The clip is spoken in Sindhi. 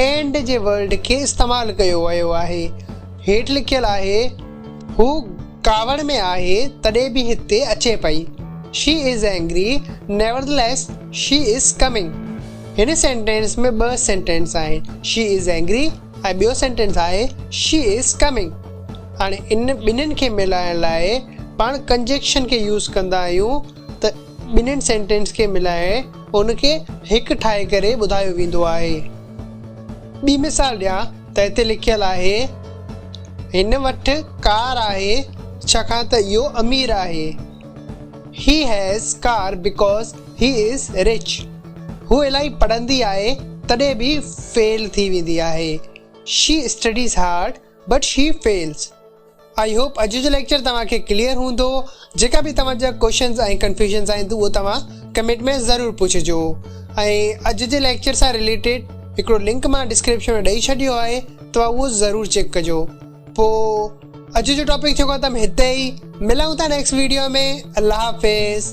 اينڊ جي ورڊ کي استعمال ڪيو ويو آهي. هيٺ لکيل آهي، هو ڪاوڙ ۾ آهي تڏهن به هتي اچي پئي. She is angry, nevertheless she is coming. هن سينٽينس ۾ ٻه سينٽينس آهن، شي از اينگري ۽ ٻيو سينٽينس آهي، شي از ڪمنگ. هاڻي ان ٻنهين کي ملائڻ لاء پاڻ ڪنجيڪشن کي يوز ڪندا آهيون. ته ٻنهين سينٽينس کي ملائي ان کي هڪ ٺاهي ڪري ٻڌايو ويندو آهي. ٻي مثال ڏيان ته هتي لکيل آهي، هن وٽ ڪار آهي ڇاڪاڻ ته اهو امير آهي. He has car because he is rich. هوء الاهي پڙهندي آهي تڏهن به فيل ٿي ويندي آهي. She studies hard but she fails. I hope اڄ جو ليڪچر توهان کي ڪليئر هوندو. جيڪا به توهان جا ڪوشچنز ۽ ڪنفيوزنز آهن اهو توهان ڪمينٽ ۾ ضرور پڇجو ۽ اڄ جي ليڪچر سان رليٽيڊ هڪڙو لنڪ مان ڊسڪرپشن ۾ ڏئي ڇڏيو آهي توهان اهو ضرور چيڪ ڪجو پو اڄ جو ٽاپڪ ٿيو ختم هتي ئي ملون ٿا نيڪسٽ ويڊيو ۾ الله حافظ.